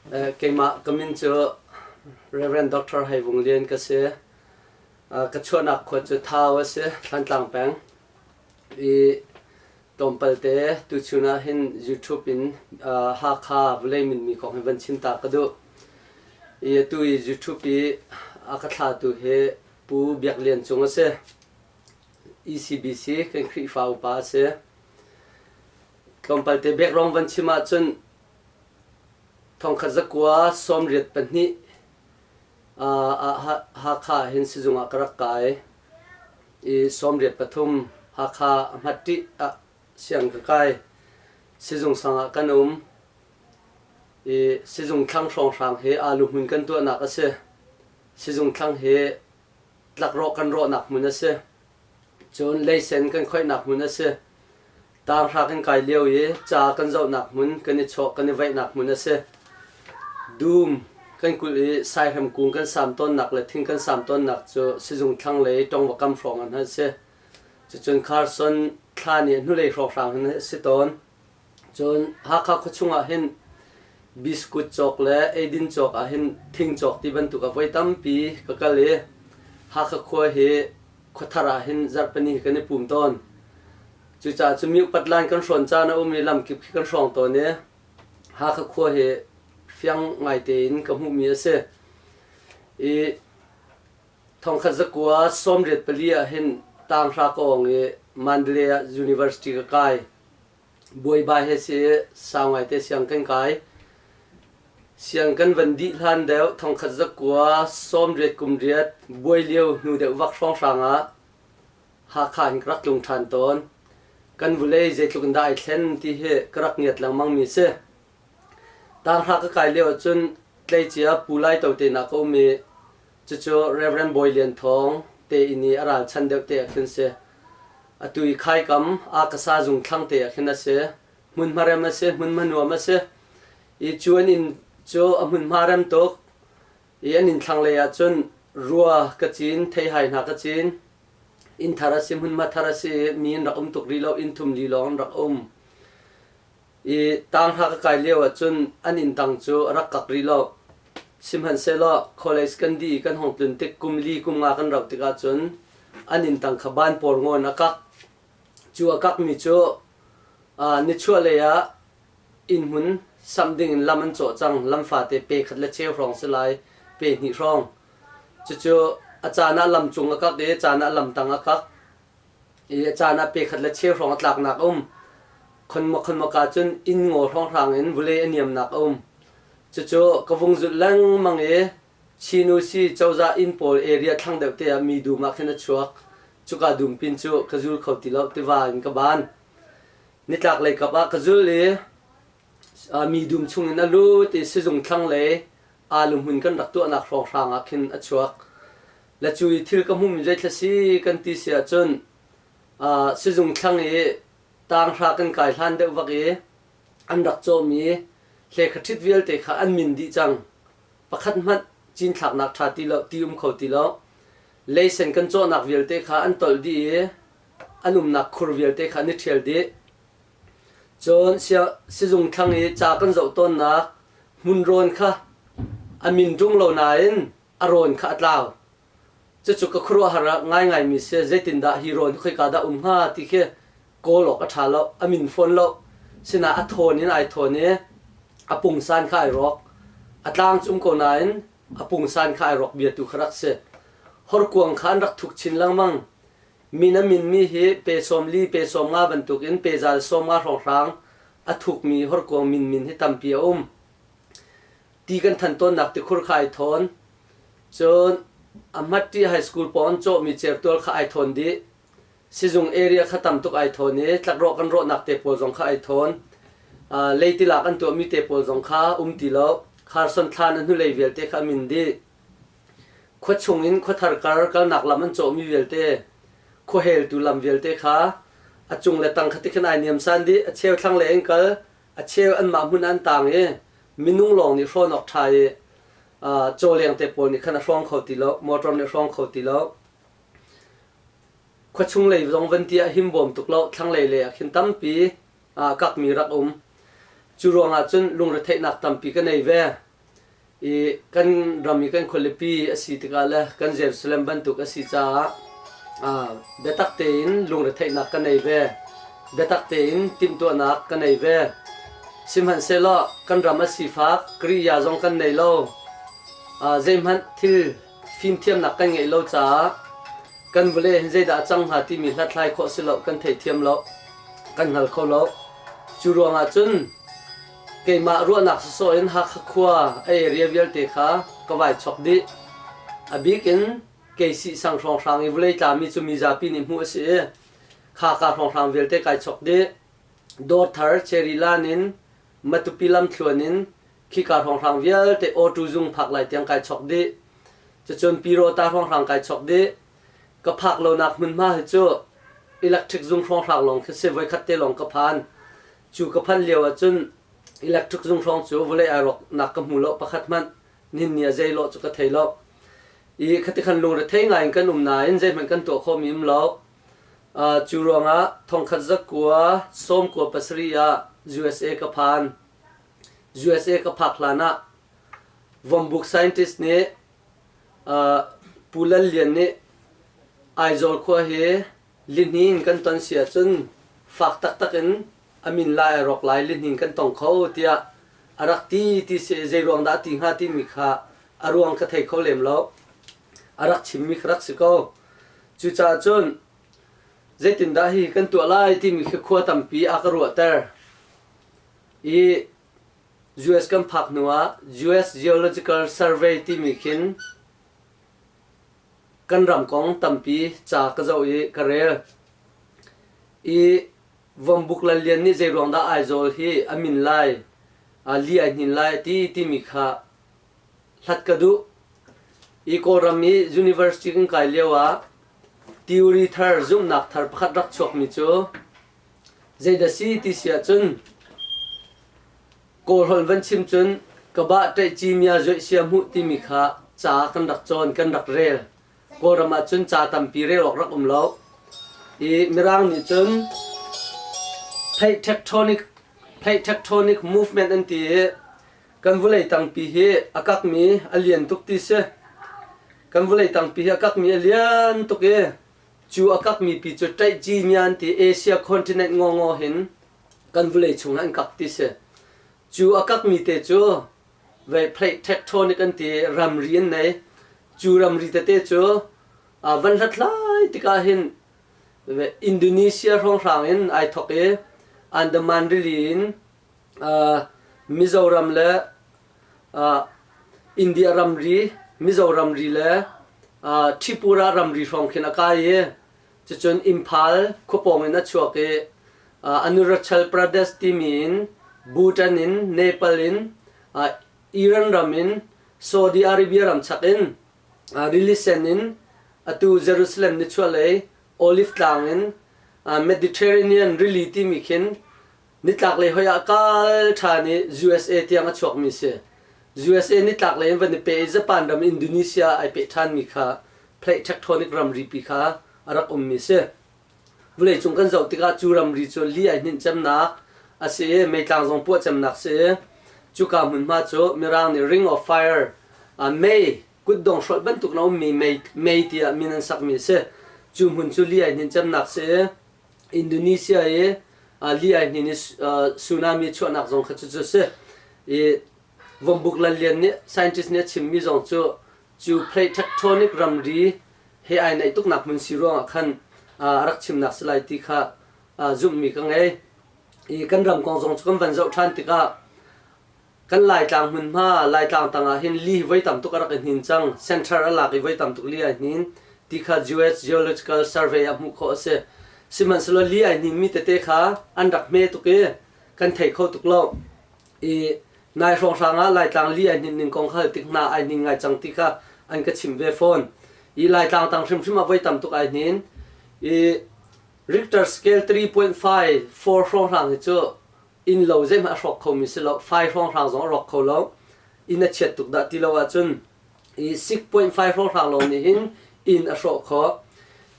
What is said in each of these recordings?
Keimah ka min cu Reverend Doctor Hai Vung Lian ka si. ka chuahnak khua cu Thau a si, Thlantlang peng. I tlawmpalte tuchun ah hin YouTube in Hakha Vulei Minmi kong hi van chinta ka duh. I atu i YouTube i a ka thlatu hi Pu Biak Lian Cung a si. ECBC kan Khrihfa upa a si. Tlawmpal te background van chim ahcun thongkhat zakua sawm riat pahnih Hakha ah hin sizung ah ka rak kai i sawm riat pathum Hakha Hmattih ah siang ka kai sizung sang ah kan um i sizung thlang hrawng hrang he aa luhmun kan tuahnak a si sizung thlang he tlakrawh kan rawhnak hmun a si cun leisen kan khoihnak hmun a si Taarhra kan kai lio i ca kan zohnak hmun kan i chawh kan i vaihnak hmun a si. Dum kan kulh i Saihrem kung kan sam tawnnak le thing kan sam tawnnak cu sizung thlanglei ṭongvakam hrawng ah hna a si. Cucun Carson thlan i hnulei hrawng hrang hin a si tawn. Cun Hakha khuachung ah hin biskut cawk le eidin cawk ah hin thing cawk ti bantuk a voi tampi ka kal i Hakha khua hi khua thar ah hin zarh pahnih kan i pum tawn. Cucaah cu mi upat laan kan hrawn caan a um i lam kip khi kan hrawng tawn i Hakha khua hi fiang ngaite in ka hmuhmi a si. I thongkhat zakua sawmriat pali ah hin Tanghra kawng i Mandalay ah University ka kai. Buaiba he si i sau ngaite siang kan kai. Siang kan van dih hlan deuh thongkhat zakua sawmriat kumriat buai lio hnu deuh vak hrawnghrang ah Hakha in ka rak tlung ṭhan tawn. Kan vulei zeitluk in dah ai thlen ti hi ka rak ngiat lengmangmi si. Taanghra ka kai lio ahcun tleicia Pu Lai To te nak a um i cucu Reverend Bawi Lian Thawng te inn i a ralchan deuh te ah khin si. Atu i khaikam Akasa zung thlang te ah khin a si. Hmunhma rem a si, hmunhma nuam a si. I cu an inn cu a hmunhma rem tuk. I an inn thlanglei ahcun rua ka cin, theihai hna ka cin, inn thar a si, hmunhma thar a si, mi an rak um tuk rih lo, inn thum li lawng an rak um. I tang hla ka kai lio ahcun an inn tang cu a rak kak rih lo. Sihmanhsehlaw College kan di kan hong tlun tik kum li kum nga kan rauh tik ahcun an inn tang kha ban pawl ngawn a kak. Cu a kakmi cu aa nichuah lei ah Innhmun samh ding in lam an cawh cang. Lam fate pe khat le cheu hrawng si lai, pe hnih hrawng. Cucu a caan ah lam cung a kak i a caan ah lam tang a kak i a caan ah pe khat le cheu hrawng a tlaknak a um. Khonma khonmak ah cun inn ngaw hrawnghrang in vule a niamnak a um. Cucu ka vung zulh lengmang i Chinusi cozah inn pawl area thlang deuh te ah mi dum ah khin a chuak. Cuka dum pin cu ka zul kho ti lo tiva in ka ban. Nitlaklei kap ah ka zul i mi dum chungin a lut i sizung thlanglei aluhmun kan rak tuahnak hrawnghrang ah khin a chuak. Le cu i thil ka hmumi zeithla si kan ti si ahcun sizung thlang i tanghra kan kai hlan deuh bak i an rak cawmi hleikhaṭhit vialte kha an min dih cang. Pakhat hmanh cinthlaknak ṭha ti lo, ti um kho ti lo. Leisen kan cawhnak vialte kha an tolh dih i an umnak khur vialte kha an i ṭhial dih. Cun sizung thlang i ca kan zoh tawnnak hmun rawn kha a min ṭung lo nain a rawn kha a tlau. Cucu ka khuaruahhar ah ngaingaimi si, zeitindah hi rawn hi khoika dah um hnga ti khi kawl awk a ṭha lo, a min fawn lo. Sinah a thawn in ai thawn i a pungsan kha ai rawk. A tlang cum ko nain a pungsan kha ai rawk biatu kha rak si. Horkuang kha an rak thuk chin lengmang. Min a minmi hi pe sawm li, pe sawm nga bantukin pe zal sawm nga hrawnghrang a thukmi horkuang minmin hi tampi a um. Ti kan than tawnnak tikhur kha ai thawn. Cun a Hmatṭi High School pawng cawhmi certual kha ai thawn dih. Sizung area kha tam tuk ai thawn i tlakrawh kan rawhnak te pawl zong kha ai thawn. Uh, leitilak an tuahmi te pawl zong kha um ti lo. Kharson thlan a hnulei vialte kha a min dih. Khua chung in khua thar kar kalnak lam an cawhmi vialte, khua heltu lam vialte kha a cung le tang khatik khan ai niamsan dih. A cheu thlanglei an kal, a cheu anmah hmun an tang i minung lawng nih hrawn awk ṭha i uh, cawleng te pawl nih khan a hrawng kho ti lo, motor nih hrawng kho ti lo. Khuachung lei zong van ti ah him bawm tuk lo. Thlanglei lei ah khin tampi aa kakmi rak um. Cu ruangah cun lungretheihnak tampi kan ei ve. I kan ram i kan khualipi a si tikah le kan Jerusalem bantuk a si caah aa biatak tein lungretheihnak kan ei ve. Biatak tein timhtuahnak kan ei ve. Sihmanhsehlaw kan ram a sifak Kiriya zong kan nei lo. Aa zeihmanh thil fimthiamnak kan ngeih lo caah kan vale hin zeidah a cang hnga timi hlathlai khawh si lo kan theithiam lo kan hngal kho lo cu ruangah cun keimah ruahnak sawsawh in Hakha khua a area vialte kha ka vai chawk dih a bik in KC sang hrawnghrang i vulei tlami cu mi zapi nih hmuh a si i kha ka hrawnghrang vialte kai chawk dih dawr thar Cherry Lan in Matupi lamthluan in khika hrawnghrang vialte awṭu zung phak lai tiang kai chawk dih. Cucun Pirota hrawnghrang kai chawk dih. Ka phak lonak hmunhma hi cu electric zung hrawnghrang lawng khi si. Voikhat te lawng ka phan. Cu ka phanh lio ahcun electric zung hrawng cu vawlei ai rawknak ka hmu lo pakhat hmanh. Nihin ni ah zei lawh cu ka thei lo. I khati khan lungrethei ngai in kan um nain zeihmanh kan tuah khomi um lo. Uh, cu ruangah thongkhat za kua, sawm kua pasarih ah USA ka phan. USA ka phak hlan ah Vom Book scientist nih uh, Pu Lal Lian nih Aizawl khua hi lihni in kan ton si ahcun fak taktak in a min lai a rawk lai lihni in kan tong kho tiah a rak ti ti si zei ruang dah ti hnga timi kha a ruang ka thei kho lem lo a rak chimmi ka rak si ko cucaah cun Zeitindah hi kan tuah lai timi khi khua tampi a ka ruahter. I US kan phak hnu ah US Geological Survey timi khin kan ram kong tampi ca ka zoh i ka rel. I Vuambuk Lallian nih zeiruang dah Aizawl hi a min lai, a li ai hnin lai ti timi kha hlat ka duh. Hi Kawlram i university kan kai lio ah theory thar, zumhnak thar pakhat rak chuakmi cu zeidah si ti si ahcun Kawlholh van chim cun kabah ṭaih cimia zuaih sia hmuh timi kha ca kan rak cawn, kan rak rel. Kawlram ah cun ca tampi rel awk rak um lo. I Mirang nih cun theih tectonic, theih tectonic movement an ti i Kan vulei tangpi hi a kakmi a lian tuk ti si. Kan vulei tangpi hi a kakmi a lian tuk i cu a kakmi pi cu Tlaihcimian ti Asia continent ngawngaw hin kan vulei chungah in kak ti si. Cu a kakmi te cu vehpleih tectonic an ti ramri an nei. Cu ramri tete cu uh, van hlathlai tikah hin Indonesia hrawnghrang in ai thok i Andaman rili in Mizoram le India ramri, Mizoramri le Tripura ramri hrawng khin a kai i cucun Imphal khuapawng in a chuak i Arunachal Pradesh timi in Bhutan in Nepal in Iran ram in Saudi Arabia ram chak in rili sen in atu Jerusalem nichuahlei Olive Tlang in Mediterranean rili timi khin Nitlaklei hoi ah kal ṭhan i USA tiang a chuakmi a si. USA nitlaklei in van i peh i Japan ram Indonesia ai peh ṭhanmi kha plate tectonic ramripi kha a rak ummi a si. Vawleicung kan zoh tikah cu ramri cu li ai hninh cemnak a si i meitlang zong puah cemnak a si i cuka hmunhma cu Mirang nih Ring of Fire ah mei kutdong hrolh bantuk in a ummi mei, mei tiah min an sakmi a si. Cu hmun cu li ai hninh cemnak a si i Indonesia i li ai hnin i tsunami chuahnak zong kha cucu a si. I Vumbuk Lal Lian nih scientist nih a chimmi zong cu cu plate tectonic ramri he ai naih tuknak hmun si ruangah khan a rak chimnak si lai ti kha zumhmi ka ngei. I kan ram kong zong cu kan van zoh ṭhan tikah Kan Laitlang hmunhma, Laitlang tang ah hin li hi voi tam tuk a rak i hnin cang. Central a lak i voi tam tuk li ai hnin. Ti kha US Geological Survey ah hmuh khawh a si. Sihmanhsehlaw li ai hninmi tete kha an rak hme tuk i kan thei kho tuk lo. I nai hrawnghrang ah Laitlang li ai hnin ning kong kha hal tik hna ai hnin ngai cang ti kha an ka chimh ve fawn. I Laitlang tang hrimhrim ah voi tam tuk ai hnin. I Richter scale 3.54 hrawnghrang hi cu Innlo zeihmanh a hrawk khomi si lo, fai hrawnghrang zong a rawk kho lo. Inn a chiat tuk dah ti lo ahcun i six point five hrawnghrang lawng nih hin inn a hrawh khawh.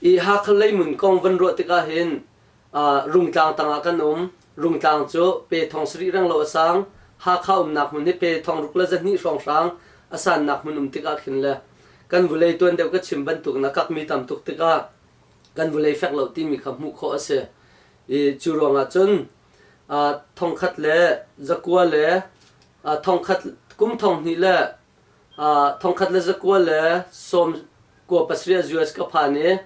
I Hakha leimun kong van ruah tikah hin Rungtlang tang ah kan um. Rungtlang cu pe thong sarih reng lo a sang. Hakha umnak hmun hi pe thong ruk le za hnih hrawnghrang a sannak hmun um tikah khin le kan vulei tuan deuh ka chim bantuk in a kakmi tam tuk tikah kan vulei fek lo timi kha hmuh khawh a si. I cu ruangah cun thongkhat le zakua le thongkhat kum thong hnih le thongkhat le zakua le sawm kua pasarih ah US ka phan i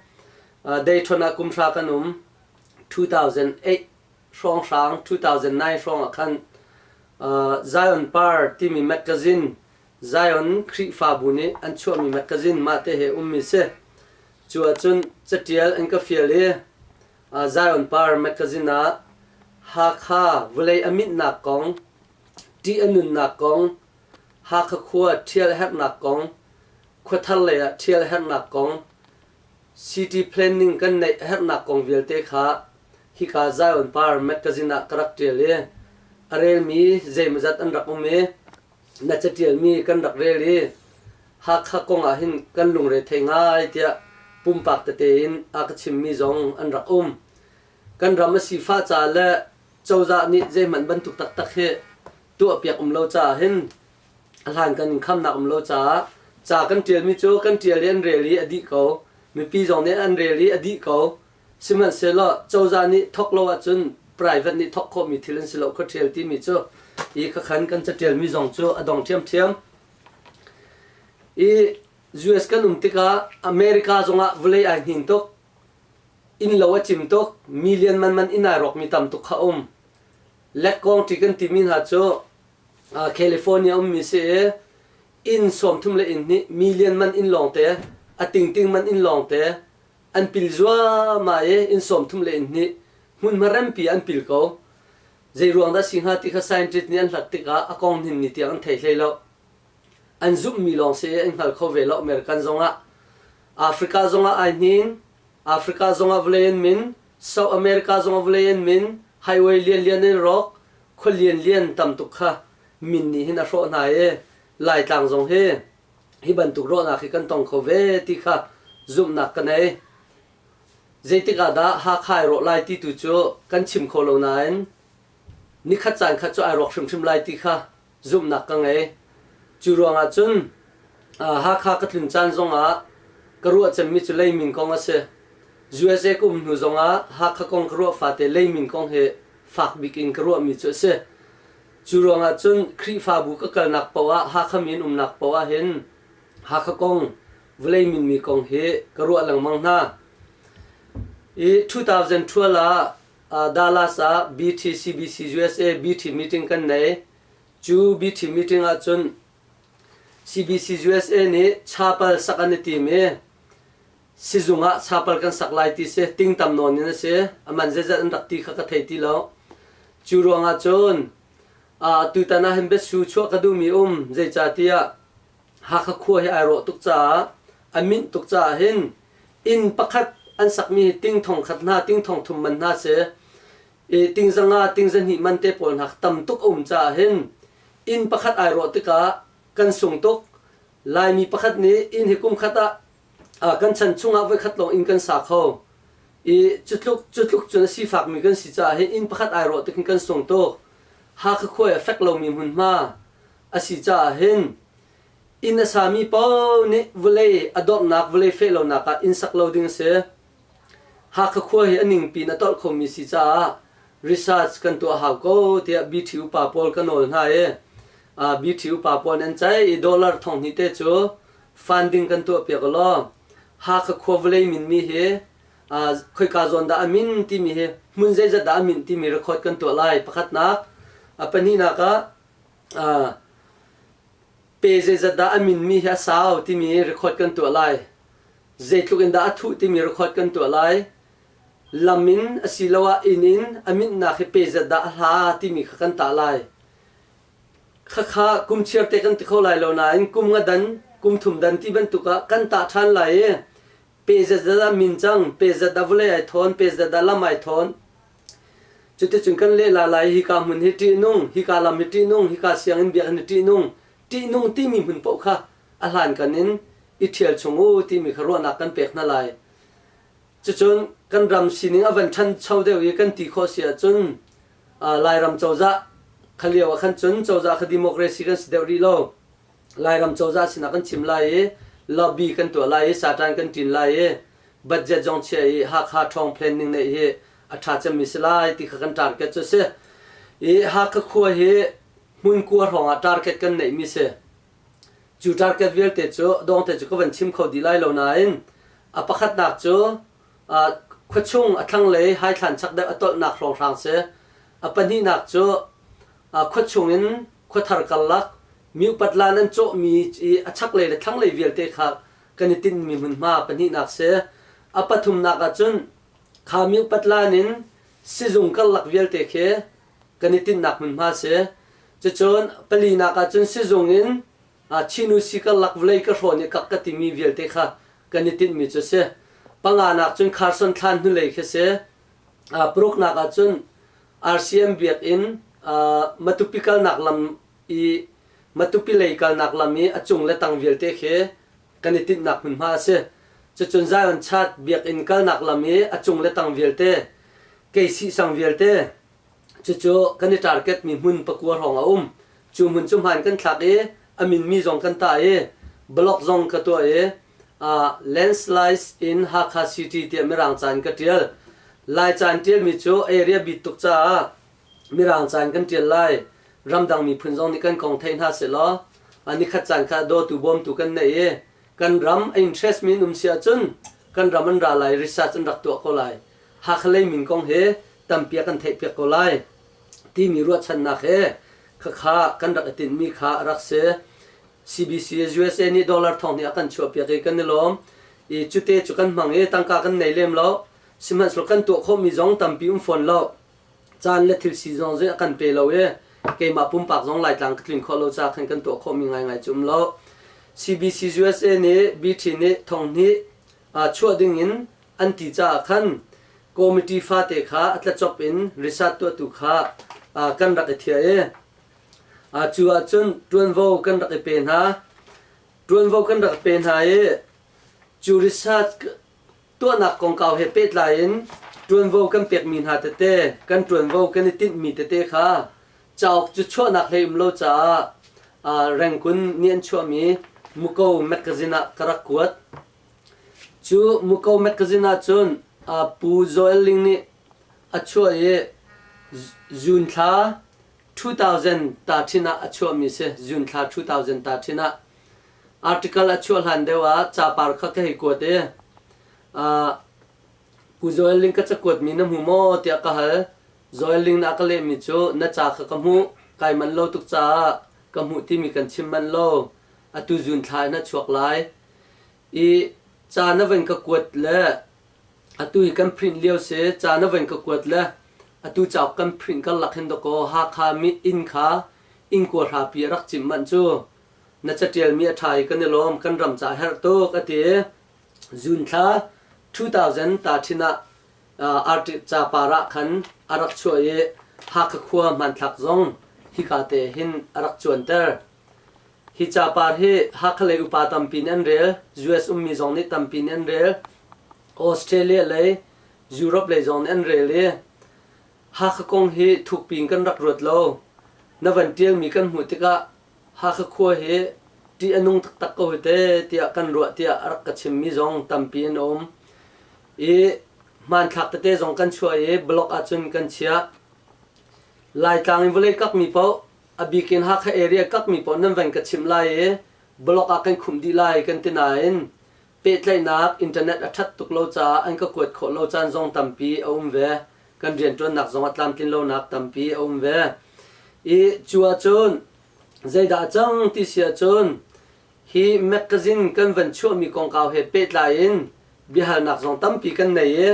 dayton ah kumhra kan um 2008 hrawnghrang 2009 hrawng ah khan Zion Par timi magazine Zion Khrihfabu nih an chuahmi magazine mah te he ummi si cu ahcun catial an ka fial i Zion Par mekazin ah Hakha vawlei a minhnak kong, ṭih a nunnak kong, Hakha khua ṭhial a herhnak kong, khua thar lei ah ṭhial a herhnak kong, City Planning kan neih a herhnak kong vialte kha hika Zion Par mekazin ah ka rak ṭial i a relmi zeimawzat an rak um i na catialmi kan rak rel i Hakha kong ahhin kan lungre thei ngai tiah pumpak tete in a ka chimmi zong an rak um. Kan ram a sifah ca le cozah nih zeihmanh bantuk taktak hi tuahpiak um lo caah hin a hlankan in khamnak um lo caah ca kan ṭialmi cu kan ṭial i an rel i a dih ko. Mipi zong nih an rel i a dih ko. Sihmanhsehlaw cozah nih thawk lo ahcun private nih thawk khawhmi thil an si lo khuaṭial timi cu hi khakhan kan catialmi zong cu a dong ṭhiamṭhiam. I US kan um tikah America zongah vawlei ai hnin tuk. Innlo a cim tuk. Million manman inn ai rawkmi tam tuk kha a um. Lekkongṭi kan timi hna cu uh, California ummi si i inn sawmthum le inn hnih million man inn lawngte, a tingting man inn lawngte, an pil zuahmah i inn sawmthum le in hnih hmunhma rempi an pil ko zeiruang dah si hnga ti kha scientist nih an hlat tikah a kong hnin ni tiang an thei hlei lo an zumhmi lawng si an hngal kho ve lo American zongah Africa zongah ai hnin Africa zongah vawlei an min South America zongah vawlei an min highway lian lian in rawk khua lian lian tam tuk kha min nih hin a hrawh hna i Laitlang zong hi hi bantuk ruahnak hi kan tong kho ve ti kha zumhnak ka nei. Zeitik ah dah Hakha i rawh lai ti tu cu kan chim kho lo nain nikhat caan khat cu ai rawk hrimhrim lai ti kha zumhnak ka ngei. Cu ruangah cun Hakha ka tlun caan zongah ka ruah cemmi cu leimin kong a si. USA ka um hnu zongah Hakha kong ka ruah fate leimin kong hi fak bik in ka ruahmi cu a si. Cu ruangah cun Khrihfabu ka kalnak paoh ah Hakha mi an umnak paoh ah hin Hakha kong, Vawlei minmi kong hi ka ruah lengmang hna. I 2012 ah Dallas ah BT CBC USA BT meeting kan nei. Cu BT meeting ah cun CBC USA nih chapal sak an i tim i Sizung ah sapal kan sak lai ti si. Tingtam nawn in a si. A man zeizat an rak ti kha ka thei ti lo. Cu ruangah cun tutan ah hin biasu chuah ka duhmi um. Zeicatiah Hakha khua hi ai rawh tuk caah, a minh tuk caah hin inn pakhat an sakmi hi ting thong khat hna, ting thong thum man hna si. I ting zanga, ting zahnih man te pawl hna tam tuk a um caah hin inn pakhat ai rawh tikah kan sung tuk. Laimi pakhat nih inn hi kum khat ah kan chan chungah voikhat lawng inn kan sa kho i cutluk cutluk cun a sifakmi kan si caah hi inn pakhat ai rawh tukin kan sung tuk Hakha khua a fek lomi hmunhma a si caah hin inn a sami paoh nih vawlei a dorhnak vawlei feh lonak ah inn sak lo ding a si Hakha khua hi a ningpi in a tolh khomi si caah research kan tuah hau ko tiah BT upa pawl ka nawl hna i BT upa pawl nih an ceih i dollar thong hnih te cu funding kan tuahpiak ulaw Hakha khua vawlei minmi hi khoika zawn dah a min timi hi hmun zeizat dah a minh timi record kan tuah lai. Pakhatnak, a pahnihnak ah pe zeizat dah a minmi hi a sau timi record kan tuah lai. Zeitluk in dah a thuh timi record kan tuah lai. Lam in asiloah inn in a minhnak hi pe zat dah a hla timi kha kan tah lai. Khakha kum chiarte kan ti kho lai lo nain kum nga dan, kum thum dan ti bantuk ah kan tah ṭhan lai i pe zat dah min cang, pe zat dah vawlei ai thawn, pe zat dah lam ai thawn Cuticun kan lehla lai hika hmun hi ṭihnung, hika lam hi ṭihnung, hika sianginn biakinn hi ṭihnung, ṭihnung timi hmun paoh kha a hlankan in i ṭhial chung u timi kha ruahnak kan pek hna lai. Cucun kan ram sining a van ṭhancho deuh i kan ti khawh si ahcun Lairam cozah kha lio ah khan cun cozah kha democracy kan si deuh rih lo. Lairam cozah sinah kan chim lai i lobby kan tuah lai i saṭan kan ṭin lai i budget zong chiah i Hakha ṭhawng planning neih hi a ṭha cemmi si lai ti kha kan target cu a si. I Hakha khua hi hmunkua hrawngah target kan neihmi si. Cu target vialte cu dawngte cu ka van chim kho dih lai lo nain a pakhatnak cu uh, khuachung a thlanglei hai thlan chak deuh a tolhnak hrawnghrang si. A pahnihnak cu uh, khuachung in khua thar karlak Mi upat la nan cawhmi i a chaklei le thlanglei vialte kha kan i tinhmi hmunhma pahnihnak si. A pathumnak ah cun kha mi upat lan in sizung karlak vialte khi kan i tinhnak hmunhma si. Cucun palinak ah cun sizung in chinu si karlak vawlei ka hrawn i kak ka timi vialte kha kan i tinhmi cu si. Panganak cun kharson thlan hnulei khi si. Paruknak ah cun RCM biakinn Matupi kalnak lam i Matupi lei kalnak lam i a cung le tang vialte khi kan i tinhnak hmunhma a si. Cucun Zion Church biakinn kalnak lam i a cung le tang vialte, Keisih sang vialte, cucu kan i tarketmi hmun pakua hrawng a um. Cu hmun cu hmaan kan thlak i a minmi zong kan tah i block zong ka tuah i Landslides in Hakha City tiah mirang caan ka ṭial. Lai caan ṭialmi cu area bit tuk caah Mirang caan kan ṭial lai. Ramdang miphun zong nih kan kong thei hna sehlaw a nikhat caan kha dawtu bawmtu kan neih i kan ram a interest-mi an um si ahcun kan ram an ra lai, research an rak tuah ko lai. Hakha lei min kong hi tampi ah kan theihpiak ko lai timi ruahchannak he khakha kan rak i tinhmi kha a rak si. CBC usa nih dollar thonghnih a kan chuahpiak i kan i lawm. I cute cu kan hmang i tangka kan nei lem lo. Sihmanhsehlaw kan tuah khawhmi zong tampi um fawn lo. caan le thil si zong zei a kan pe lo i keimah pumpak zong Laitlang ka tlin khawh lo ca khan kan tuah khawhmi ngaingai cu um lo. CBC USA nih BT nih thonghnih chuah dingin an ti caah khan committee fate kha a tlacop in risat tuahtu kha kan rak i thiah i cu ahcun ṭuanvo kan rak i pe hna. Ṭuanvo kan rak i pe hna i cu risat tuahnak kongkau he pehtlai in ṭuanvo kan pekmi hna tete, kan ṭuanvo kan i tinhmi tete kha cauk cu chuahnak hlei um lo caah rengkun nih an chuahmi Muko mekazin ah ka rak kuat. Cu Muko mekazin ahcun Pu Joel Ling nih a chuah i June thla 2000 ta thin ah a chuahmi a si. June thla 2000 ta thin ah. Article a chuah hlan deuh ah capar kha ka hei kuat i Pu Joel Ling ka cakuat mi na hmu maw tiah ka hal. Joel Ling nih a ka lehmi cu na ca kha ka hmuh, kai manh lo tuk caah ka hmuh timi kan chim manh lo. Atu zun thla in a chuak lai. I ca na van ka kuat le atu hi kan print lio si, ca na van ka kuat le atu cauk kan print karlak hin dawkaw Hakha inn kha inn kuahrapi a rak cimh manh cu na catialmi a ṭha i kan i lawm, kan ram ca a herh tuk, a ti i June thla 2000 Taṭhin ah arṭih capar ah khan a rak chuah i Hakha khua hmanthlak zong hika te hin a rak cuanter. Hi capar hi Hakha lei upa tampi nih an rel, US ummi zong nih tampi nih an rel, Australia lei, Europe lei zong nih an rel i Hakha kong hi thukpi in kan rak ruat lo. Na van ṭialmi kan hmuh tikah Hakha khua hi ṭih a nung taktak ko hi teh tiah kan ruah tiah a rak ka chimmi zong tampi an um. I hmanthlak tete zong kan chuah i blog ahcun kan chiah. Laitlang i vawlei kakmi paoh, a bik in Hakha area kakmi paoh nan van ka chimh lai i blog ah kan khumh dih lai kan ti nain Pehtlaihnak, Internet a ṭhat tuk lo caah an ka kuat khawh lo caan zong tampi a um ve. Kan rianṭuannak zong a tlamtlin lonak tampi a um ve. I cu ahcun zeidah a cang ti si ahcun hi mekazin kan van chuahmi kongkau he pehtlai in biahalnak zong tampi kan nei i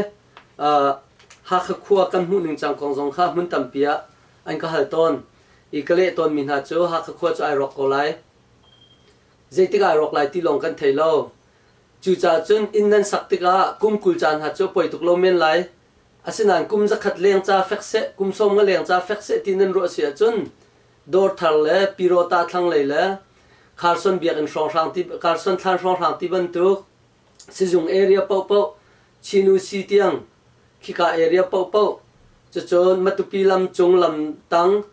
Hakha khua kan hmuh ning cang kong zong kha hmun tampi ah an ka hal tawn i ka leh tawnmi hna cu Hakha khua cu ai rawk ko lai. zeitik ah rawk lai ti lawng kan thei lo. Cucaah cun inn nan sak tikah kum kul ca hna cu a poi tuk lo men lai. Asinain kum zakhat leng ca fek seh, kum sawm nga leng ca fek seh ti nan ruah si ahcun dawr thar le pyiraw tah thlanglei le Kharson biakinn hrawnghrang ti, Kharson thlan hrawnghrang ti bantuk Sizung area paohpaoh, Chinu si tiang, khika area paohpaoh, cucun Matupi lam cung lam tang,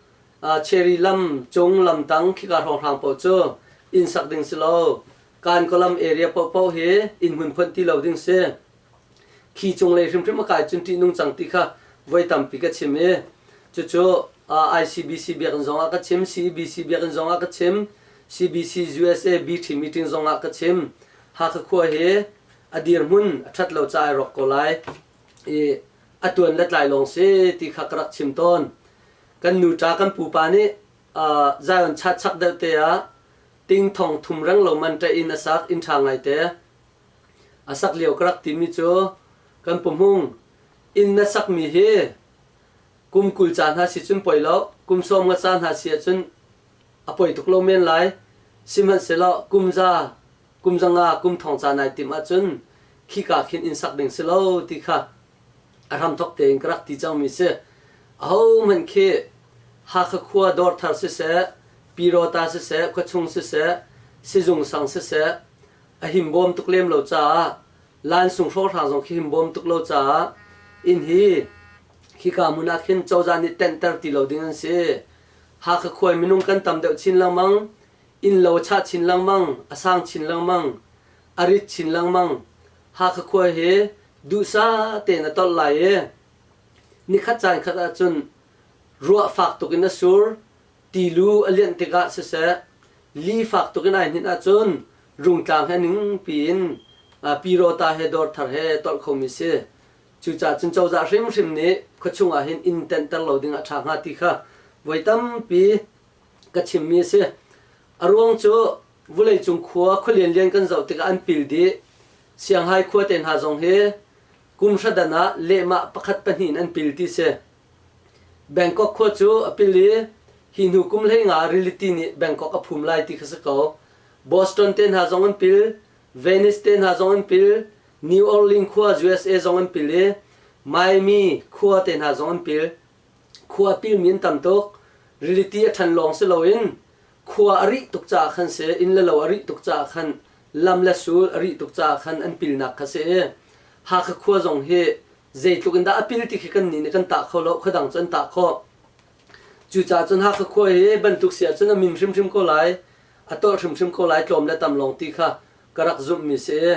Cherry lam cung lam tang khika hrawnghrang paoh cu inn sak ding si lo. Kankaw area paohpaoh hi inn hmun phonh ti lo ding si. Khi cunglei hrimhrim a kai cun ṭih nung cang ti kha voi tampi ka chim i cucu ICBC biakinn zongah ka chim, CEBC biakinn zongah ka chim, CBC USA B-Tree meeting zongah ka chim, Hakha khua hi a dirhmun a ṭhat lo ca i rawk ko lai i a tuan le tlai lawng si ti kha ka rak chim tawn. Kan nuṭa kan pupa nih uh, Zion chat chak deuh te ah ting thong thum reng lo man ṭe in a sak inn ṭha ngaite a sak lio ka rak timi cu kan pumhung inn na sakmi hi kum kul ca hna si cun poi lo kum sawm nga ca hna si ahcun a poi tuk lo men lai. Sihmanhsehlaw kum za, kum zanga, kum thong ca nai timh ahcun khika khin inn sak ding si lo ti kha a hramthok tein ka rak ti cangmi si. Ahohmanh khi Hakha khua dawr thar siseh, Pirota siseh, khuachung siseh, sizung sang siseh, a himbawm tuk lem lo caah, lansung hrawhrang zong khi himbawm tuk lo caah, inn hi khika hmun ah khin cozah nih tenhter ti lo ding an si. Hakha khua in minung kan tam deuh chin lengmang. Innlo a chah chin lengmang, a sang chin lengmang, a rit chin lengmang. Hakha khua hi duhsah tein a tolh lai i nikhat caan khat ahcun ruah fak tuk in a sur, ti lu a lianh tikah siseh, li fak tuk in ai hninh ahcun rungtlang he ningpi in pi rawta he dawr thar he tolh khomi si. Cucaah cun cozah hrimhrim nih khuachung ah hin inn tenhter lo ding a ṭha hnga ti kha voi tampi ka chimmi a si. A ruang cu vuleicung khua khua lianlian kan zoh tikah an pil dih. Sianghai khua te hna zong hi kum hradan ah lehmah pakhat pahnih in an pil ti si. Bangkok khua cu a pil i hi hnu kum hleinga rili tii nih Bangkok a phum lai ti kha si ko. Boston te hna zong an pil. Venice te hna zong an pil, New Orleans khua USA zong an pil i Miami khua te hna zong an pil. Khua pilmi an tam tuk. Reality a ṭhan lawng si loin khua a rih tuk caah khan si, inn le lo a rih tuk caah khan, lam le sul a rih tuk caah khan an pilnak kha si i Hakha khua zong hi zeitluk in dah a pil ti khi kan nih nih kan tah kho lo, khuadang cu an tah khawh. Cucaah cun Hakha khua hi bantuk si ahcun a min hrimhrim ko lai. a tawlh hrimhrim ko lai tlawm le tam lawng ti kha ka rak zumhmi si i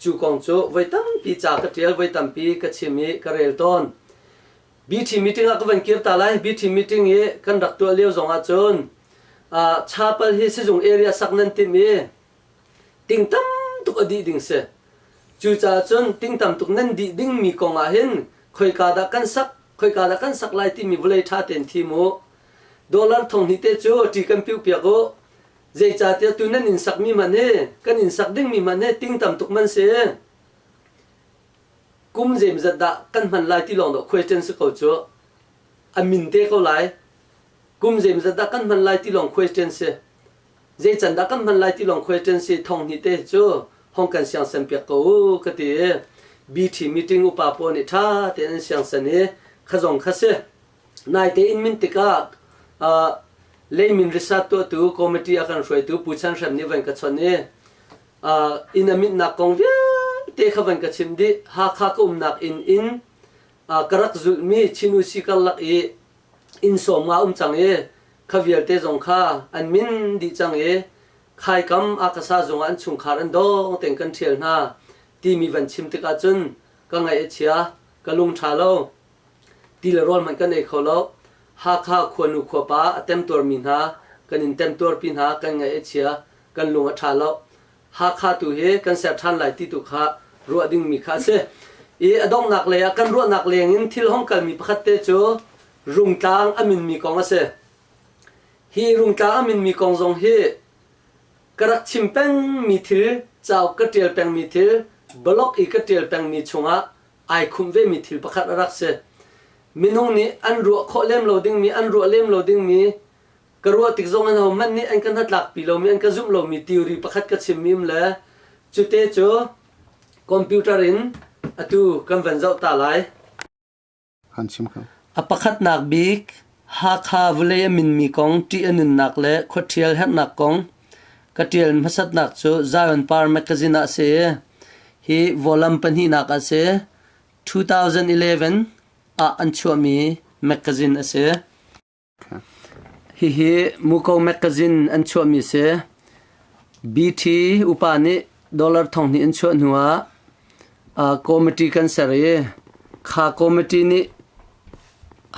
cu kong cu voi tampi ca ka ṭial, voi tampi ka chim i ka rel tawn. BT meeting ah ka van kir ta lai. BT meeting i kan rak tuah lio zong ahcun uh, chapal hi sizung area sak nan timh i ting tam tuk a dih ding si. Cucaah cun ting tam tuk nan dih dingmi kong ah hin khoika dah kan sak, khoika dah kan sak lai timi vulei ṭha tein thim u. Dollar thong hnih te cu ṭi kan piuh piak u. Zeicahtiah tu nan inn sakmi hmanh hi, kan inn sak dingmi hmanh hi ting tam tuk man si. Kum zeimazat dah kan hman lai ti lawng dah khuaiṭen si ko cu. A min te ko lai. Kum zeimazat dah kan hman lai ti lawng khuaiṭen si. Zeican dah kan hman lai ti lawng khuaiṭen si. Thong hnih te cu hong kan siangsen piak ko u ka ti i, BT meeting upa pawl nih ṭha tein an siangsen i, kha zong kha si. Naite in min tikah uh, leimin risat tuahtu committee a kan hruaitu Pu Chan Hrem nih van ka chon i uh, inn a mitnak kong vialte kha van ka chim dih Hakha ka umnak inn in uh, ka rak zulhmi Chinu si karlak i inn sawm nga um cang i kha vialte zong kha an min dih cang i khaikam akasa zong ah an chungkhar an dong ten kan ṭhial hna timi van chim tikah cun ka ngaih a chia ka lung ṭha lo Ti le rawl hmanh kan ei kho lo. Hakha khuanu khuapa a temtuarmi hna kan in temtuarpi hna kan ngaih a chia kan lung a ṭha lo. Hakha tu hi kan ser ṭhan lai ti tu kha ruah dingmi kha a si. I a donghnak lei ah kan ruahnak leng in thil hong kalmi pakhat te cu Rungtlang a minmi kong a si. Hi Rungtlang a minmi kong zong hi ka rak chim pengmi thil, cauk ka ṭial pengmi thil, blog i ka ṭial pengmi chungah ai khum vemi thil pakhat a rak si. Minung nih an ruah khawh lem lo dingmi, an ruah lem lo dingmi, ka ruah tik zong in ho hmanh nih an ka hnatlakpi lomi, an ka zumh lomi theory pakhat ka chimmi um le cute cu computer in atu kan van zoh ta lai. Kan chim ko. A pakhatnak bik Hakha vawlei a minmi kong ṭih a nunnak le khuaṭhial herhnak kong Ka ṭial hmasatnak cu Zion Par mekazin ah a si i hi volume pahnihnak ah a si. 2011 ah an chuahmi mekazin a si. Hihi Muko mekazin an chuahmi a si. BT upa nih dollar thong hnih an chuah hnu ah uh, committee kan ser i kha committee nih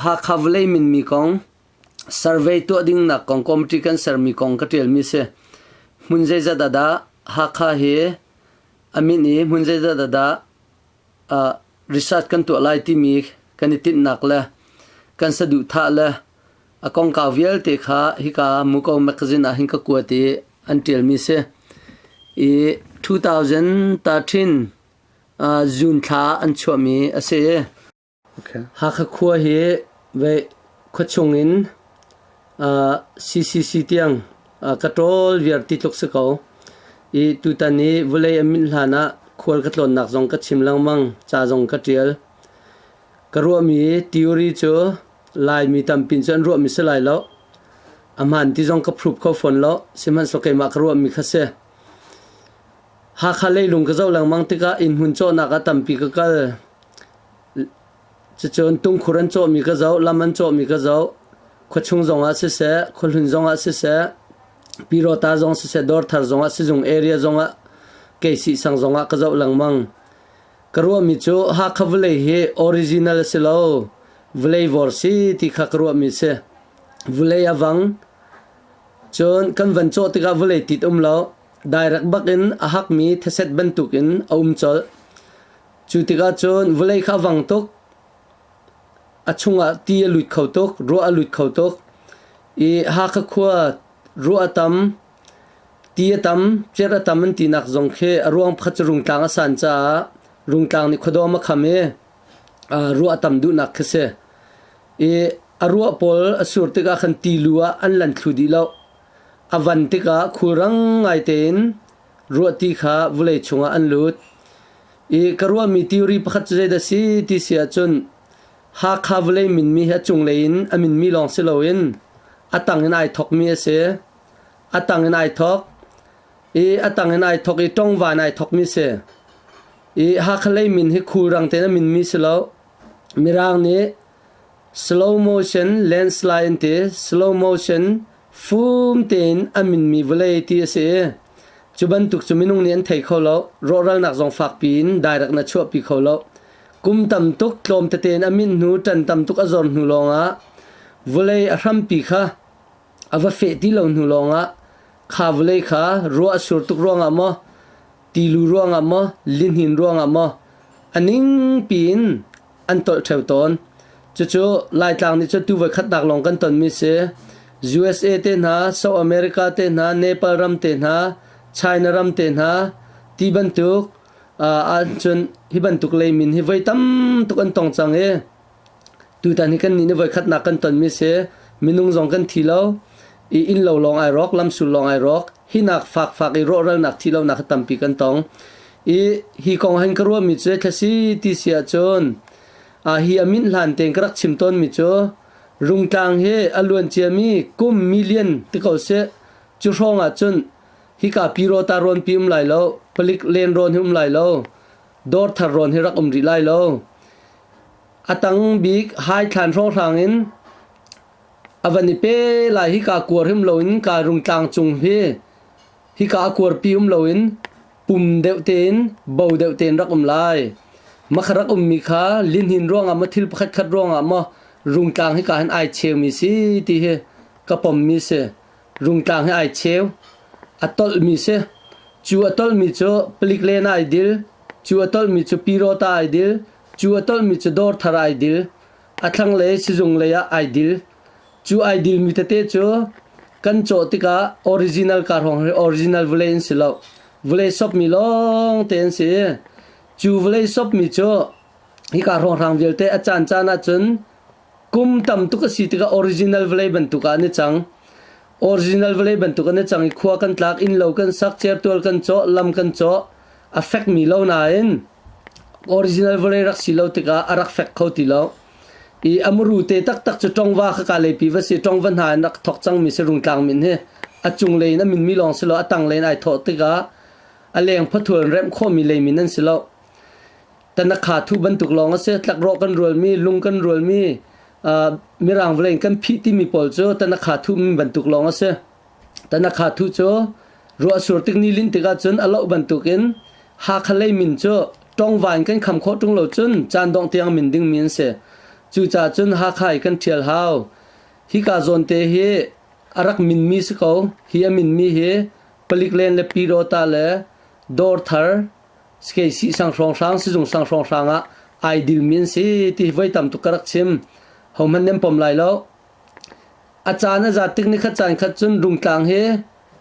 Hakha vawlei minmi kong Survey tuah dingnak kong committee kan sermi kong ka ṭialmi a si. Hmun zeizat ah dah Hakha hi a minh i hmun zeizat ah dah uh, research kan tuah lai timi kan i tinhnak le kan saduhthah le a kongkau vialte kha hika Muko magazine ah hin ka kuat i an ṭialmi si. I 2013 uh, June thla an chuahmi a si. Hakha khua hi khua chung in CCC tiang ka ṭawl vialte tluk si ko i tutan i vawlei a minh hlan ah khual ka tlawnnak zong ka chim lengmang, ca zong ka ṭial. Ka ruahmi theory cu Laimi tampi cu an ruahmi si lai lo. A hmaan ti zong ka prove kho fawn lo, sihmanhsehlaw keimah ka ruahmi kha si. Hakha leilung ka zoh lengmang tikah inn hmun cawhnak ah tampi ka kal. Cucun tungkhur an cawhmi ka zoh, lam an cawhmi ka zoh. Khuachung zongah siseh, khuahlun zongah siseh, pirawta zong siseh, dawrthar zongah sizung area zongah kei sihsang zongah ka zoh lengmang. Ka ruahmi cu Hakha vawlei hi original a si lo, vawlei vawr si ti kha ka ruahmi a si. Vawlei a vang. Cun kan van cawh tikah vawlei tit um lo. Direct bak in a hakmi theset bantuk in a um colh. Cu tikah cun vawlei kha a vang tuk, a chungah ti a lut kho tuk, ruah a lut kho tuk i Hakha khua ruah a tam, ti a tam, cerh a tam an tinak zong khi a ruang pakhat cu Rungtlang a san caah Rungtlang nih khuadawm a kham i ruah a tam duhnak khi si. I a ruah pawl a sur tikah khan ti lu ah an lan thlu dih loh. A van tikah khulrang ngai tein ruah ti kha vulei chungah an lut i ka ruahmi theory pakhat cu zeidah si ti si ahcun Hakha vawlei minmi hi a cunglei in a minmi lawng si loin a tang in ai thokmi a si. A tang in ai thok i a tang in ai thok i ṭongvan ai thokmi si. I Hakha lei min hi khulrang tein a minmi si lo. Mirang nih Slow motion landslide ti slow motion fum tein a minmi vawlei ti a si i cu bantuk cu minung nih an thei kho lo. Rawhralnak zong fakpi in direct in a chuahpi kho lo. Kum tam tuk tlawm tete in a minh hnu ṭan tam tuk a zor hnu lawngah vawlei a hrampi kha a va feh ti lo hnu lawngah kha vawlei kha ruah a sur tuk ruangah maw tilu ruangah maw lihnin ruangah maw a ningpi in an tolh theo tawn. Cucu Laitlang nih cu tu voi khatnak lawng kan tonmi si. USA te hna, South America te hna, Nepal ram te hna, China ram te hna, ti bantuk ahcun hi bantuk leimin hi voi tam tuk an tong cang i tutan hi kan nih ni voi khatnak kan tonmi si. Minung zong kan thi lo. I innlo lawng ai rawk, lamsul lawng ai rawk, hinak fakfak i rawhralnak thilonak kha tampi kan tong. I hi kong han ka ruahmi cu thlasi ti si ahcun a hi a minh hlan tein ka rak chim tawnmi cu rungtlang hi a luan ciami kum million ti ko sih cu hrawng ahcun hika pi ro ta rawn pi um lai lo palik len rawn hi um lai lo dawr thar rawn hi rak um rih lai lo a tang bik hai thlan hrawng hrang in A van i pe lai. Hika kuar him loin kaa rungtlang cung hi hika a kuarpi um loin pum deuh tein bo deuh tein rak um lai. Makha rak ummi kha lihnin ruangah maw thil pakhatkhat ruangah maw rungtlang hika hin ai cheumi si ti hi ka pommi si. Rungtlang hi ai cheu. A tolhmi si. Cu a tolhmi cu palik len ah ai dil. Cu a tolhmi cu piraw ta ai dil. Cu a tolhmi cu dawr thar ah ai dil. A thlanglei sizung lei ah ai dil. Cu ai dilmi tete cu kan cawh tikah original car hrawng hi original vulei an si lo. Vulei sopmi lawng te an si i cu vulei sopmi cu hika hrawnghrang vialte a caan caan ahcun kum tam tuk a si tikah original vulei bantuk ah an i cang. Original vulei bantuk an i cang i khua kan tlak, innlo kan sak, certual kan cawh, lam kan cawh, a fekmi lo nain original vale rak si lo tikah a rak fek kho ti lo. I a muru te taktak cu ṭongva kha ka leipi va si ṭongva hna in rak thawk cangmi si rungtlang min hi a cunglei in a minmi lawng si lo a tanglei in ai thawh tikah a leng phathual remh khawmi leimin an si lo. Tanakha thu bantuk lawng a si tlakrawh kan rualmi lung kan rualmi uh, mirang vale in kan phih timi pawl cu tanakha thu min bantuk lawng a si. Tanakhathu cu ruahsur tikni linh tikah cun a loh bantukin Hakha lei min cu ṭongvain kan kham khawh ṭung lo cun caan dongh tiang min dingmi an si. Cucaah cun Hakha i kan ṭhial hau. Hika zawnte hi a rak minmi si ko. Hi a minmi hi palik len le Pyirawta le Dawrthar, Skeisih sang hrawnghrang, sizung sang hrawnghrang ah ai dilmi an si ti hi voi tam tuk ka rak chim. Hohmanh nan pom lai lo. A caan a zat tik nikhat caan khat cun rungtlang hi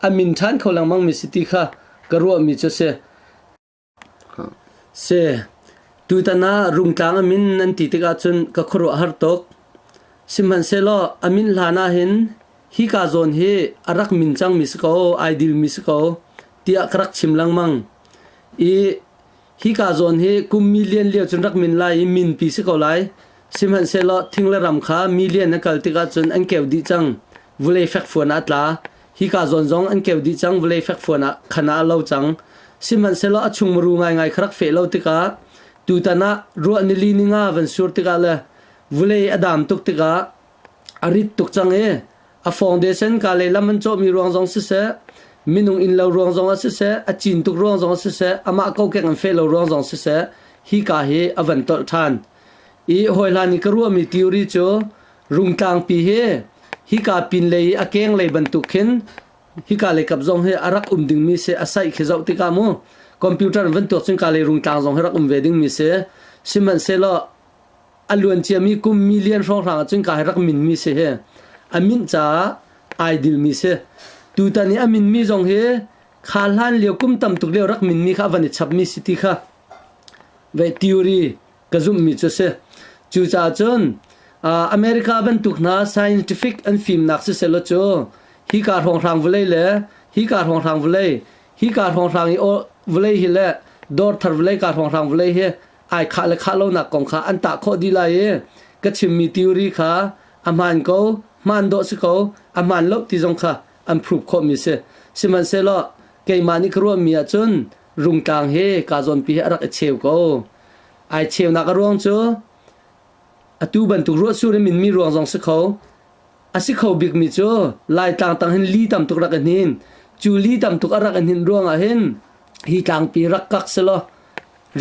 a min ṭhan kho lengmangmi si ti kha ka ruahmi cu a si. Si. Tutan ah rungtlang a min nan ti tikah cun ka khuaruah har tuk. Sihmanhsehlaw a min hlan ahhin hika zawn hi a rak min cangmi si ko, ai dilmi si ko tiah ka rak chim lengmang i Hika zawn hi kum million lio cun rak min lai i minpi si ko lai. Sihmanhsehlaw thing le ram kha million an kal tikah cun an keu dih cang. Vulei fekfuan ah a tla. Hika zawn zong an keu dih cang, vulei fekfuan ah khan ah a lo cang. Sihmanhsehlaw a chung muru ngaingai kha rak feh lo tikah, tutan ah ruah nili ni nga van sur tikah le vulei a dam tuk tikah, A rit tuk cang i a foundation kaa lehlam an cawhmi ruang zong siseh, minung innlo ruang zong ah siseh, a cin tuk ruang zong ah siseh, amah kokek an feh lo ruang zong siseh, hi kaa hi a van tolh ṭhan. I hawihlan i ka ruahmi theory cu rungtlangpi hi hika pinlei i a kenglei bantuk khin hika lei kap zong hi a rak um dingmi si. A saih khi zoh tikah mu computer in van tuak cun kaa lei rungtlang zong hi rak um ve dingmi si. Sihmanhsehlaw A luanciami kum million hrawnghrang ahcun ka rak minmi si hi a minh caah ai dilmi si. Tutan i a minmi zong hi kha hlan lio kum tam tuk lio rak minmi kha a van i chapmi si ti kha vei theory ka zumhmi cu si. Cucaah cun uh, America bantuk hna scientific an fimnak sisehlaw cu hi ka hrawnghrang vulei le hi ka hrawnghrang vulei hi ka hrawnghrang i vawlei hi le dawr thar vulei ka hrawnghrang vulei hi ai khah le khah lonak kong kha an tah khawh dih lai i ka chimmi theory kha a hmaan ko hmaan dawh si ko a hmaan lo ti zong kha an prove khawhmi si sihmanhsehlaw keimah nih ka ruahmi ahcun rungtlang he kaa zawnpi he a rak i cheu ko ai cheunak a ruang cu atu bantuk ruahsur in minmi ruang zong si kho A si kho bikmi cu Laitlang tang hin li tam tuk rak i hnin. Cu li tam tuk a rak i hnin ruangah hin hi tlangpi rak kak selaw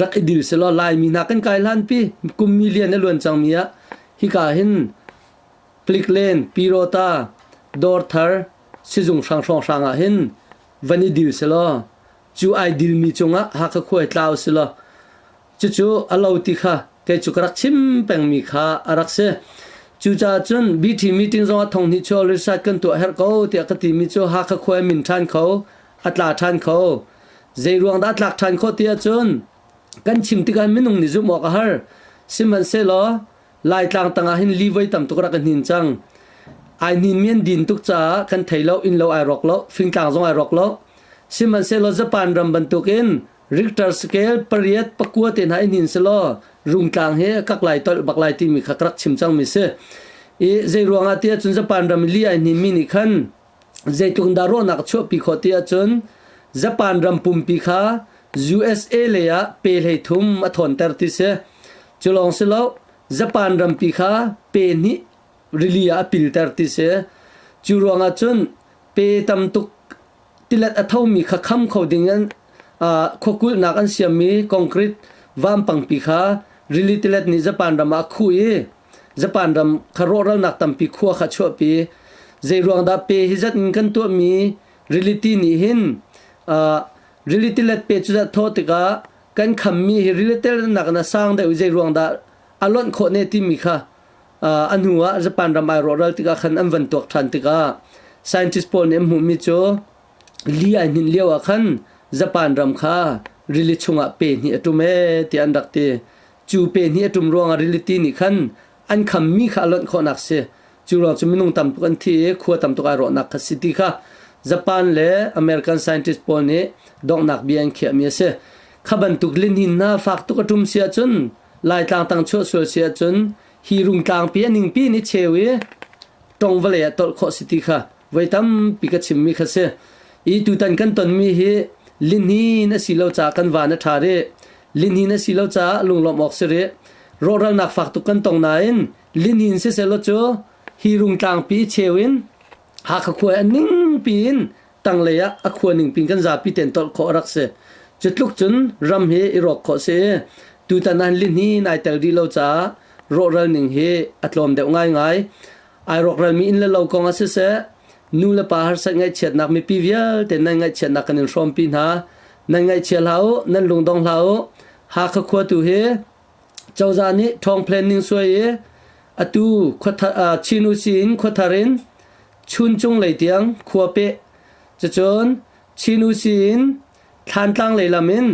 rak i dil selaw Laimi hna kan kai hlanpi kum million a luan cangmi ah hika hin Pliklen, Pirawta, Dawrthar, sizung hrang hrawnghrang ah hin van i dil selaw cu ai dilmi cungah Hakha khuai tlau selaw Cucu a lo ti kha kei cu ka rak chim pengmi kha a rak si. Cucaah cun BT meeting zongah thong hnih cu research kan tuah herh ko tiah ka timi cu Hakha khua i min ṭhan kho, a tla ṭhan kho. Zeiruang dah a tlak ṭhan khawh ti ahcun kan chim tikah minung nih zumh awk a har. Sihmanhsehlaw Laitlang tangah hin livei tam tuk rak ka hnin cang. Ai hninmi an din tuk caah kan thei lo, inn lo ai rawk lo, fingtlang zong ai rawk lo. Sihmanhsehlaw Japan ram bantukin Richter scale pariat pakua te hna in hin si law rungtlang he a kak lai tolh bak lai timi kha ka rak chim cangmi si. I zei ruangah tiah cun Japan ram li ai hnimi nih khan zeitluk in dah ruahnak chuahpi khawh ti ahcun Japan ram pumpi kha USA lei ah pe hlei thum a thawnter ti si. Cu lawng si lo Japan rampi kha pe hnih rili ah a pilter ti si. Cu ruangah cun pe tam tuk tilet a thomi kha kham kho dingin khuakulhnak an siammi concrete vampangpi kha rili tilet nih Japan ram ah a khuh i Japan ram kha rawhralnak tampi khua kha chuahpi. Zeiruang dah pe hi zat in kan tuahmi riliti nih hin rili tilet pe cu zat thawh tikah kan khammi hi rili tiletnak in a sang deuh i zeiruang dah a lonh khawh ne timi kha a hnu ah Japan ram ai rawhral tikah khan an van tuak ṭhan tikah scientist pawl nih an hmuhmi cu li ai hninh lio ah khan Japan ram kha rili chungah pe hnih a ṭum ee tiah an rak ti. Cu pe hnih a ṭum ruangah riliṭi nih khan an khammi kha a lonh khawhnak si. Cu ruang cu minung tam tuk an thi i khua tam tuk ai rawhnak kha si ti kha Japan le American scientist pawl nih donghnak bia an khiahmi a si. Kha bantuk lihninh hna fak tuk a ṭum si ahcun Laitlang tang chuah sual si ahcun hi rungtlang pi a ningpi nih cheu i tong vale a tolh khawh si ti kha voi tampi ka chimmi kha si. I tutan kan tonmi hi linhin a si lo caah kan van a ṭha rih. Linhin a si lo caah lunglawmh awk si rih. Rawhralnak fak tuk kan tong nain linhin si sehlaw cu hi rungtlang pi cheu in Hakha khua an ningpi in tanglei ah a khua ning pin kan zapi ten tolh khawh rak si cu tluk cun ram hi i rawk khawh si tutan an lin hi nai tel rih lo caah rawhral ning hi a tlawm deuh ngaingai ai rawkral mi in le lo kong ah siseh nu le pa har sat ngaihchiatnak mipi vialte nan ngaihchiatnak kan in hrawm pi hna nan ngaihchia hlah u nan lungdong hlah u hakha khua tu hi Cozah nih ṭhawng planning suai i atu khuathar ah Chin usi in khuathar in chuncung lei tiang khua peh. Cucun Chin usi in thlantlang lei lam in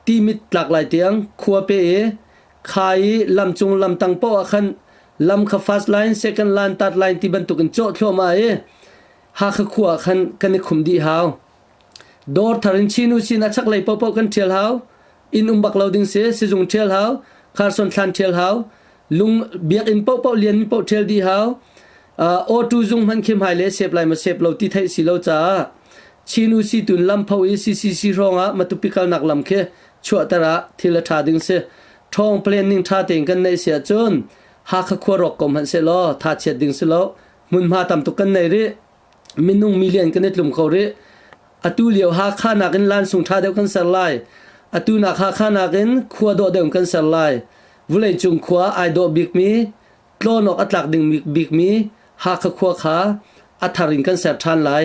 timit tlak lai tiang khua pe i kha i lam cung lamtang paoh ah khan lam kha first line, second line, third line ti bantukin cawh thluahmah i Hakha khua ah khan kan i khum dih hau. Dawr thar in Chin u sin a chaklei paohpaoh kan ṭhial hau. Inn um bak lo ding si, sizung ṭhial hau, kharson thlan ṭhial hau, lung biakinn paohpaoh lian mi paoh ṭhial dih hau. Uh, awtu zung hman khi hmai le sep lai ma sep lo ti theih si lo caah Chin u si tun lampho i CCC hrawngah matupi kalnak lam khi chuahter ah thil a ṭha ding si. Ṭhawng planning ṭha tein kan neih si ahcun Hakha khua rawk ko hmanh sehlaw tha chiat ding si lo. Hmunhma tam tuk kan nei rih. minung million kan i tlum kho rih atu lio hakha nakin lansung tha deuh kan ser lai atu nak hakha nakin khua dawh deuh kan ser lai vulei cung khua ai dawh bikmi tlonawk a tlak ding bikmi hakha khua kha a thar in kan ser than lai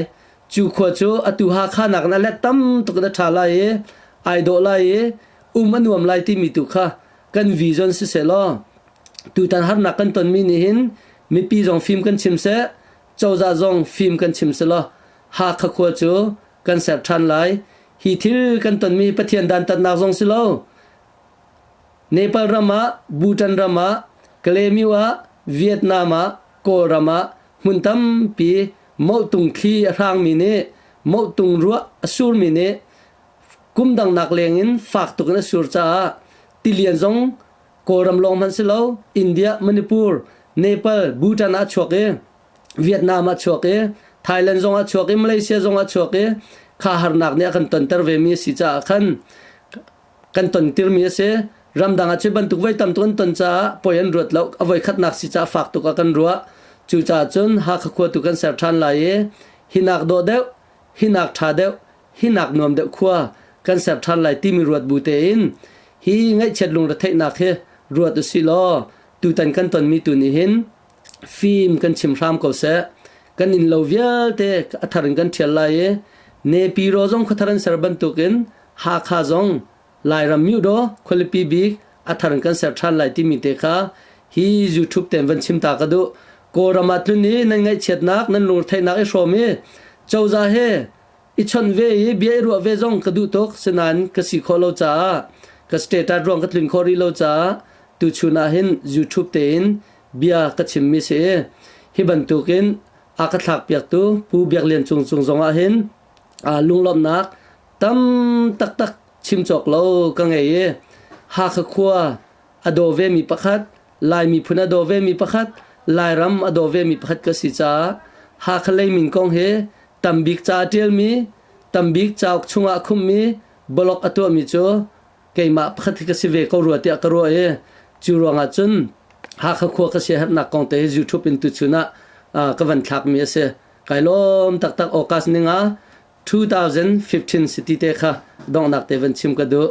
cu khua cu atu hakha nakin a let tam tuk in a tha lai i ai dawh lai i um a nuam lai timi tu kha kan vision si se law tutan harnak kan tonmi nih hin mipi zong fim kan chim seh Cozah zong fim kan chim selaw Hakha khua cu kan ser ṭhan lai. Hi thil kan tonmi Pathian dantatnak zong si lo. Nepal ram ah, Bhutan ram ah, Kalemyu ah, Vietnam ah, Kawlram ah hmun tampi mohtung thli a hrangmi nih mohtung ruah a surmi nih kum dangnak lengin fak tuk in a sur caah tilian zong Kawlram lawng hmanh si lo India, Manipur, Nepal, Bhutan ah chuak i Vietnam ah chuak i Thailand zong ah chuak i Malaysia zong ah chuak i kha harnak nih a kan tonter ve mi a si caah khan kan ton tir mi a si ramdang ah cu bantuk voi tam tuk an ton caah poi an ruat lo a voi khatnak si caah fak tuk a kan ruah cucaah cun Hakha khua tu kan ser ṭhan lai i hinak dawh deuh hinak ṭha deuh hi nak nuam deuh khua kan ser ṭhan lai timi ruat bu tein hi ngaihchiat lungretheihnak hi ruat usih law tutan kan tonmi tu nih hin fim kan chim hram ko seh kan inn lo vialte a thar in kan ṭhial lai i nepi ro zong khuathar an ser bantukin hakha zong lairam myudo khualipi bik a thar in kan ser ṭhan lai timi te kha hi youtube ten van chim ta ka duh kawlram ah tlun i nan ngaihchiatnak nan lungretheihnak i hrawm i cozah he i chon ve i bia i ruah ve zong ka duh tuk sinain ka si khawh lo caah ka status ruang ka tlun kho rih lo caah tuchun ah hin YouTube tein bia ka chimmi si i hi bantukin a ka thlak piaktu Pu Biak Lian Cung Cung zong ah hin lunglawmhnak tam taktak chim cawk lo ka ngei i Hakha khua a daw vemi pakhat, Lai miphun a daw vemi pakhat, Lairam a daw vemi pakhat ka si caah Hakha lei min kong hi tambik ca a ṭialmi, tambik cauk chungah a khummi blog a tuahmi cu keimah pakhat khi ka si ve ko rua tiah ka ruah i cu ruangah cun Hakha khua ka siaherhnak kong te hi YouTube in tuchun ah uh, ka van thlakmi a si. Kai lawm taktak August ningah 2015 si ti te kha donghnak te van chim ka duh.